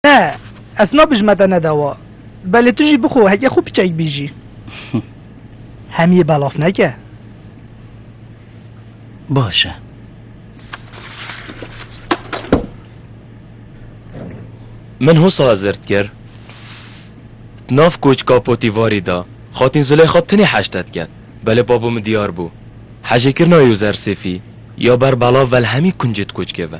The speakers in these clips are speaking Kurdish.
Ne, ez nabijme te nedawa. Belê tu jî bixwe heke xwe piçek bî jî. Hemiyê belaf neke. Baş e. Min hosa zirt kir. Nav koçka potîvarî da. Xatîn Zuleyxa tenê heştet ket. Belê babo min diyar bû. Hejêkirina Yozersêfî ya ber belav vel hemî kuncê di koçkê ve.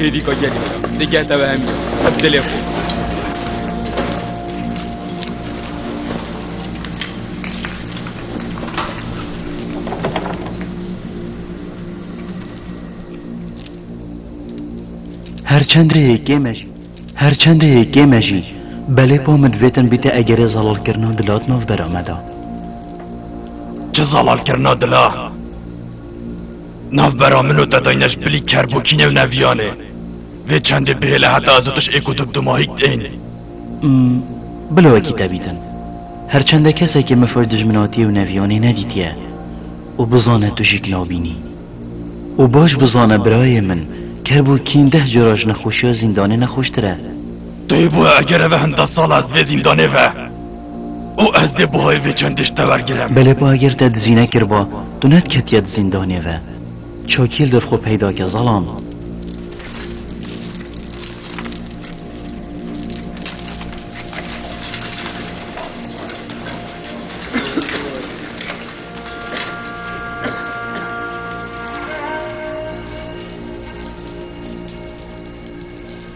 Hêdî ka gelî di geh te ve hemî dilê xwe. Her çend rê yekê me jî her çend rê yekê me jî belê pa min vêtin bîte egerê zelalkirina dilat nav bera me da. Çi zelalkirina dila? Navbera min û te dayne ji bilî kerbokî nêw neviyanê. Vê çendê bihêle heta ez û tu ji êk û du bi dimahîk tên. Bila wekî te bîtin. Her çende kesekê min firr dijminatiyê û neviyanê nedîtiye. Û bizane tu jîk nabînî. Û baş bizane birayê min, kerbokîn deh cara ji nexweşiya zîndanê nexweştir e. Tu yê bo eger eve hin deh sal e ez divê zîndanê ve. û ez dê bi hoyê vê çend tişt tevergirim. Belê bi agir te dizî nekiriba, tu nediketiye di zîndanê ve. Çakî li dev xwe peyda ke zelam.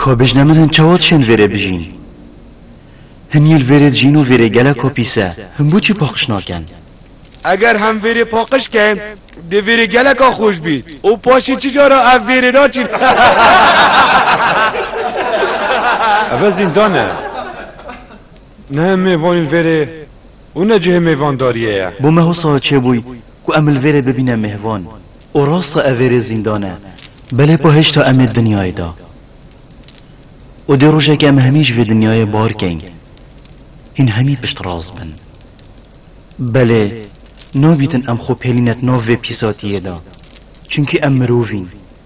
Ko bijne min hin çewot şên vêrê bijîn. Hin yîl vêrê dijîn û vêrê gelek ko pîse, hin bû çi poqiş nakin? Eger hem vêrê poqiş kin, dê vêrê geleka xweş bî û paşê çi cara ev vêrê naçîn. Ev e zîndan e. Ne em ê vanîn vêrê û ne cihê mêvandariyê ye. Bo me hosa çêbûy ku em li vêrê bibîne mêvan û rast e ev vêrê zîndan e. Belê pa hêşta em ê dinyayê de û dê rojekê em hemî ji vê dinyayê bar kein. Hîn hemî pişt rast bin. Belê nabîtin em xwe pêlînet nav vê pîsatiyê de. Çimkî em mirovîn.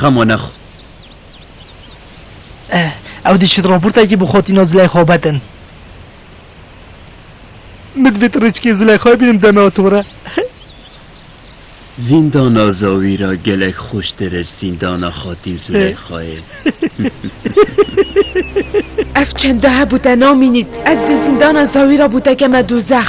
Xemo nexo. Eh, ew dişit raportekî bi xotîna Zileyxa bedin. Min divêt rêçikê Zileyxayê bînim deme û tore. Zîndana Zawî ra gelek xweştir ir zîndana xatîn Zileyxayê. Ev çende hebû te namînît. Ez di zîndana Zawî ra bû te keme dozex.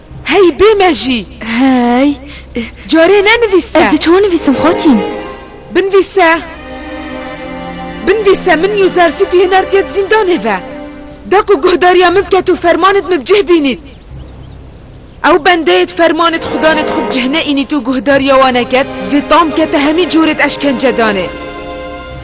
Hey bê me jî. Hey. Carê ne nivîse. Ez di çawa nivîsim xatîn? Binvîse. Binvîse min Yuzarsî fî hinartiye di zîndanê ve. Da ku guhdariya min bike tu fermanê di min bicih bînît. Ew bendeyê di fermanê di xudanê di xwe bicih neînît û guhdariya wan eket, vê tam kete hemî corê di eşkence danê.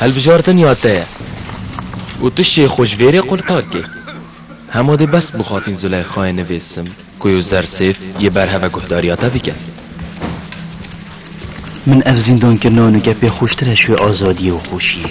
Hilbijartin ya te ye. Û tu şê xwe ji vêrê qul kakê. Hema dê bes bixafîn Zuleyxayê nivêsim ku yo zersêf yê berheve guhdariya te bike. Min ev zîndankirina nûke pê xweştir e ji wê azadiyê û xweşiyê.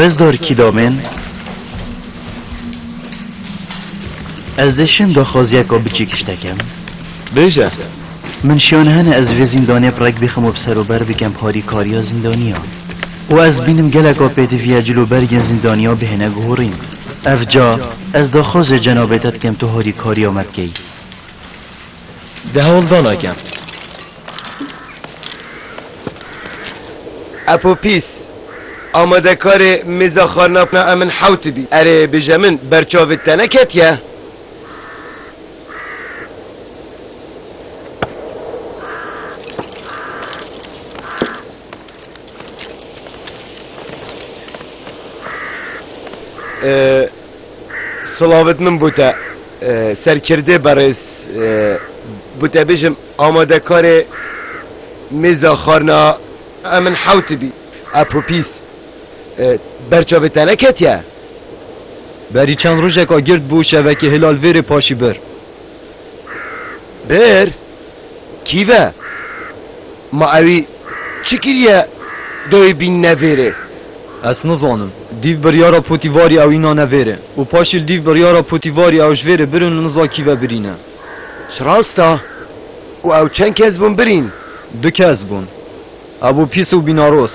Rezdor Kîdomên Ez dê şim daxwaziya ku biçî kiştekem. Bêje. Min şiyan hene ez vê zîndanê bi rek bixim û bi ser û ber bikim parîkariya zîndaniya. û ez bînim geleka pêdiviya cil û bergên zîndaniya bihêne guhurîn. Ev ca ez daxwazê cenabê te dikim tu harîkariya me bikey. Di hewldana gem. Epo pîs. Amadekarê mêza xarnavna e min hewt bî. Erê bije min berçavê te neketiye? Ee, Silavit min bû te serkirdê berêz bû te bêjim amadekarê mêza xarina e min hewt bî e popîs ber çavê te neketiye? Berî çend rojeka gird bû şevekê hilal vêrê paşî bir. Bir? Kî ve? Ma ewî çi kiriye dawî bînine vêrê? Ez nizanim. Dîv biryara Potîvarî ew înane vêrê û paşî li dîv biryara Potîvarî ew ji vêrê birin û niza kî ve birîne. Çi rast e? Û ew çend kes bûn birîn? Du kes bûn. Ew bû pîs û bînaros.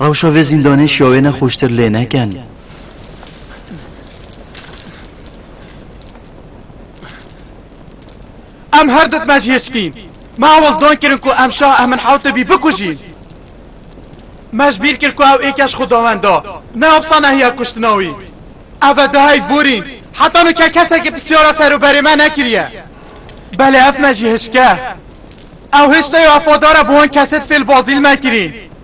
Rewşa vê zîndanê şiya wê ne xweştir lê neken. Em her du dime ji yê çikîn. Me hewl dan kirin ku em şah Emin Hewtebî bikujîn. Me ji bîr kir ku ew êkej xwedawend da. Ne opsa nehiya kuştina wî. Ev e duheyv borîn. Heta nuke kesekî pirsyara serûberê me nekiriye. Belê ev me jî hişke. Ew hiştê û ev fadar e bi wan kesê di fêlbazî li me kirîn.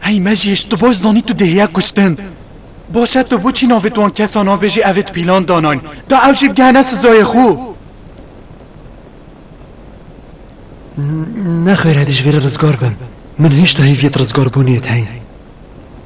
Hey Mecîş, tu baş zanî tu dêhiya kuştin. Baş e tu boçî navê wan kesan a bêjî ev ê di pîlan danayn. Da ew jî bigihene sizayê xwe. Nexwêne dijberê rizgar bim. Min hêşta hêviyê di rizgarbûnê de heye.